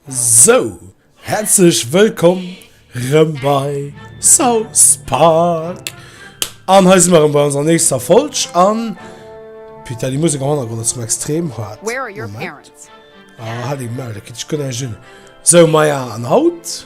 So, herzlech wëllkomm rëm bei South Park. An hei si mer bei onser nächster Folg an Peter, die Musik am Hannergrond ass extrem hart. Where are your parents? Ah, hat eng Mel, dat kritt ech guer näischt hin. So, Maja, an haut?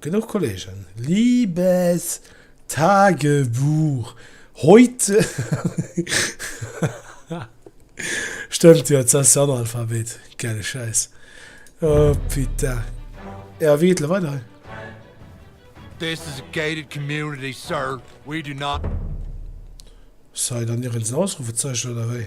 Genuch Kollegen, liebes Tagebuch, heute Stëmmt jo, et ass Analphabet, gäile Schäiss, oh putain. Ja, wéi geet elo weider hei? This is a gated community, sir. We do not. Ass hei dann ieren en Ausrufezeichen oder wéi?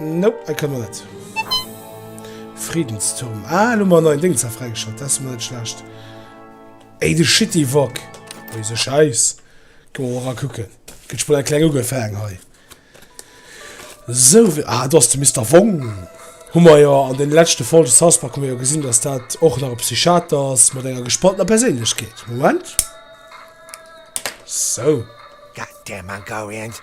Nope, hei kënne mer net. Friedensturm. Ah, elo mer neien Dings da fräigeschalt. Dat ass mol net schlecht. Ey, de Shitty Wok. Ui, se scheiss. Kënne mer ra kucken. Gëtt schmol eng kleng ugefaang hei. So, ah, do ass de Mister Wong. Hu mer jo an den leschte Folge South Park hu mer jo gesinn, dass dat och nach e Psychiater ass mat enger gespaltener Perséinlechkeet. Moment. So. God damn Mongolians.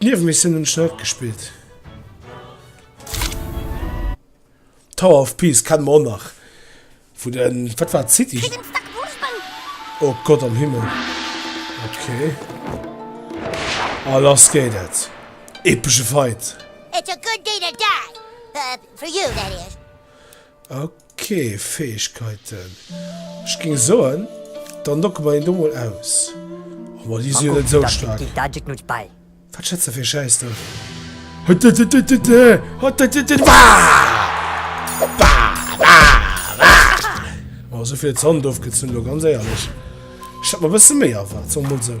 D'Niewemissiounen hunn ech nach net gespillt. Tower of Peace kenne mer och nach vun de, wat war et, City? Oh Gott am Himmel! Okay. A lass geet et! Epesche Fight! Ok, Fäegkeiten. Ech ging soen, dann logge mer een do mol aus. Oh ma déi si jo net esou staark. Wat schätz de fir ee Schäiss do? Oh, esou vill Zant ofgezunn do, ganz éierlech. Ech hat mer e bësse méi erwaart, soe mer mol esou.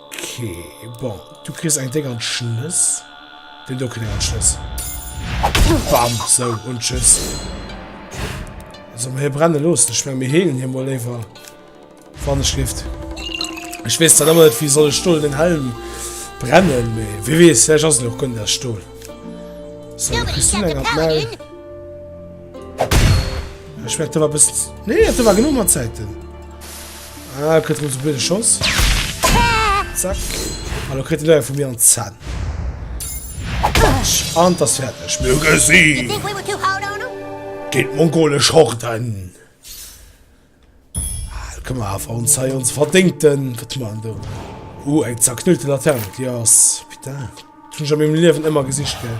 Okay, bon, du kriss eng Déng an d'Schnëss. Den do kritt eng an d'Schnëss. Bam, sou, un d'Schëss. Also, mir hie brenne loossen. Ech meng, mir heelen hie mol léiwer. Wann ech lift. Ech weess dat ëmmer net, wéi soll ech Stol den Helm brennen, mee wie weess, vläch ass en och gënnt aus Stol. So, du kriss du eng an d'Maul. Ech meng, dat war bëssen... Nee, dat war genuch mat Zäiten. Ah, kritt rëm se blöde Schoss. Zack. Hallo, kritt de Leier vu mir an Zahn. Batsch. An das fertig. Mir gesi. Geht mongole Schorten. Ah, komm mal, auf uns sei uns verdingten. Was tun wir denn da? Uh, eng zerknüllte Laterne. Ja, yes. bitte. Schon schon im Leben immer gesicht, gell?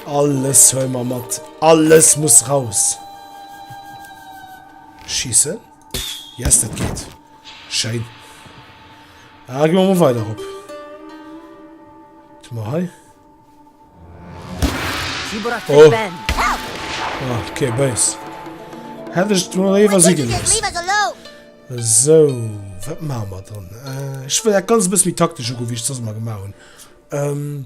Alles hol mal mat. Alles muss raus. Schiessen. Yes, dat geet. Schéin. Ah, gehen wir mal weiter op. Tu mal hei. Oh. Ah, okay, böse. Hätte ich nur lieber sie gelöst. So, was machen wir dann? Äh, ich will ja ganz ein bisschen taktisch gucken, wie ich das mal gemacht habe. Ähm,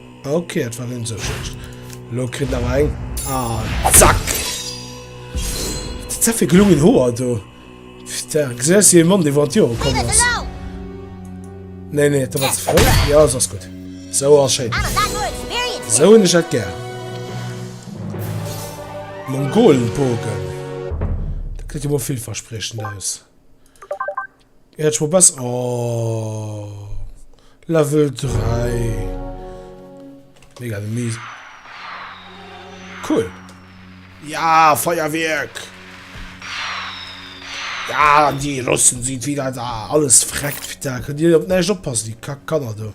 Ok, et war net esou schlecht. Elo kritt en awer eng. Ah, zack! Dat sinn fir gelungen Hoer do. Putain, gesäis du e Mann, dee wouer Jore komm ass? Nee, nee, dat war ze fréi. Ja, ass gutt. Sou ass schéin. Sou hunn ech dat gär. Mongolenbogen. Dat gesäit jo mol villverspriechend aus. Äert schwa besser ohh Level 3 mega de Mise cool ja Feierwierk ja déi Russen sinn wieder da alles freckt da kënnt dir op näischt oppassen déi kack Kanner do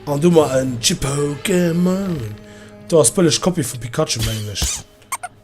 an du mer en Chippo Gemon do ass bëlleg Kopie vu Pikachu mengen ech.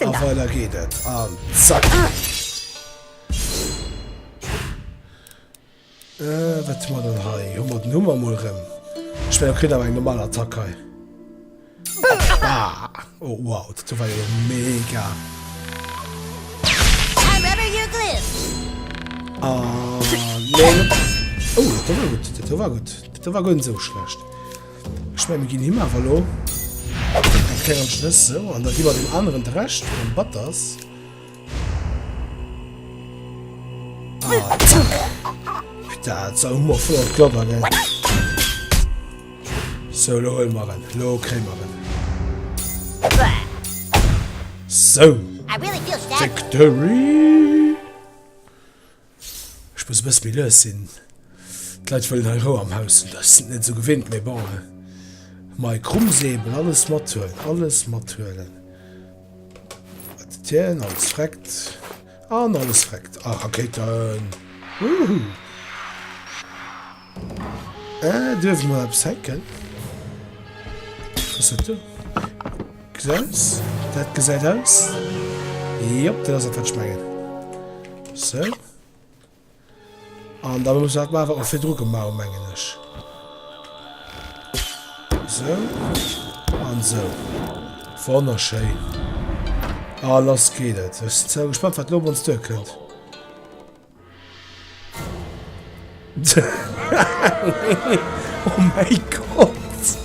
A weider geet et an zack! Wat hu mer dann hei? Hu mer den Hummer mol rëm. Ech mengen, e kritt awer eng normal Attack hei. Bam! Oh wow, dat do war jo mega! An, neen! Oh, dat do war gutt, dat do war gutt. Dat do war guer net esou schlecht. Ech meng mir ginn him awer elo en klengen Schnëss, sou, an da gi mer dem aneren de Rescht vun dem Batters. Putain, so hummer voll an d'Gladder, gell. So, lo huele mer en. Lo kréie mer en. So, Victory! Ech muss e bësse méi lues sinn. D'Leit wëllen hei Rou am Haus hunn. Ech sinn et net esou gewinnt, mee bon. Mei Krummsäbel, alles mathuelen, alles mathuelen. Wat dien, alles freckt. An alles freckt. A Rakéiten. Woohoo! Duerf mer eppes hacken? Dat gesäit aus. Jop, dat ass et wat ech mengen. Sou. An da muss dat mar wat mer virdru gemaach hunn, mengen ech. Sou. An sou. Wonnerschéin. A lass geet et. Ech sinn zwar gespannt, wat lo op ons duerkënnt. Oh mäi Gott!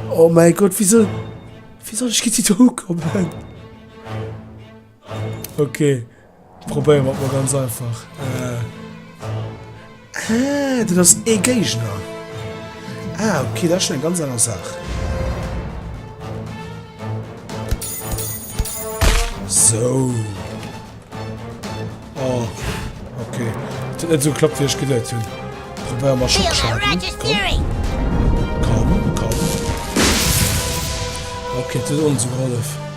Oh mäi Gott, wisou, wisou ech gitt si do ukommen? Okay, probéiere mer et mol ganz einfach. Ah, dat ass ee Géigner. Ah, okay, dat ass schonn eng ganz aner Saach. Sou. Oh, okay. Dat huet net esou geklappt, wéi ech geduet hunn. Probéier mal Schockschaden. Komm. Komm, komm. Okay, dat huet ons gehollef.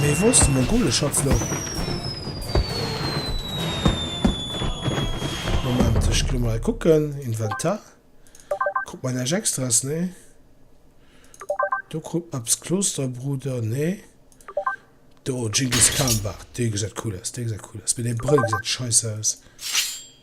Mee wou ass de Mongoleschatz lo? Moment, ech ginn emol hei kucken. Inventar. Krut mer näischt Extraes? Nee. Do krut mer eppes. Klosterbruder? Nee. Do, Genghis Khan Bart. Dee gesäit cool aus, dee gesäit cool aus. Mee dee Brëll gesäit scheiss aus.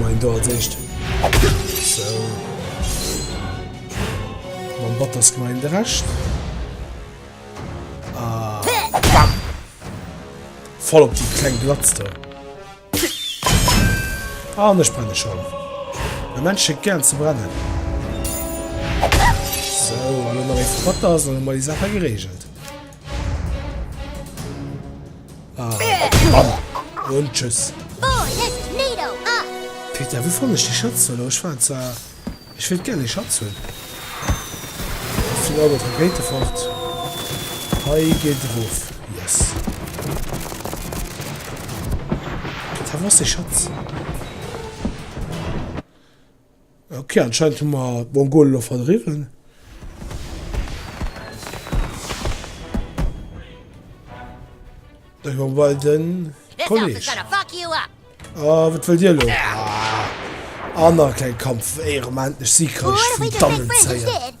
Main do als éischt sou mam Batters gemein de Rescht bam voll op déi kleng Blatz do an ech brenne schon e Mensch schéckt gären ze brennen sou an elo nach ee Batters an hu mer déi Saache geregelt. Und tschüss. Peter, wou fanne ech déi Schëtz elo? Ech war zwar. Ech wéilt gär déi Schëtz hunn. Final op Rakete fort. Hei geet erof. Yes. Peter, wou ass déi Schëtz? Ok, anscheinend hu mer d'Mongolen elo verdriwwen. Da gi mer bei den Kolleg. A wat wëllt Dir elo? Aner kleng Kampf, éier mer endlech Siegreich vun dannen zéien.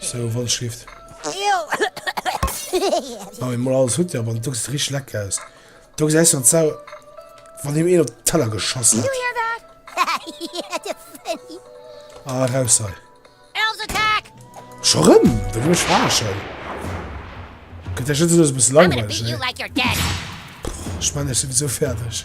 Sou wann Schrift. Wann een mol alles hutt jo, wann dux richteg lecker aus do gesäis jo d'Sau wann him een op den Teller geschoss hat. Ah raus hei. Scho rëm? Da ginn ech verarschen. Gëtt der Jëtze los e bësse langweileg, ne? Ech menn ech sinn esou fäerdeg.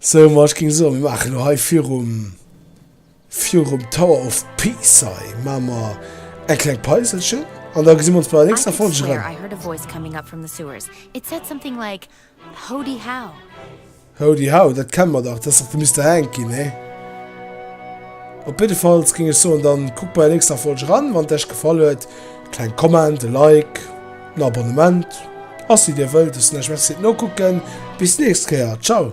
Sou, ma ech géing soen, mir maachen elo hei virum, virum Tower of Pisa i, maache mer eng kleng Päiselchen an da gesi mer ons bei der nächster Folg erëm. Howdy How, dat kenne mer dach, dat ass dach de Mister Hanky, nee? Op jiddefalls géing ech soen, da kuckt bei der nächster Folg eran, wann et iech gefall huet. Kleng Comment, e Like. Den Abonnement ass wéi dir wëllt, ech lech merci fir d'Nokucken, bis nächst Kéier, ciao.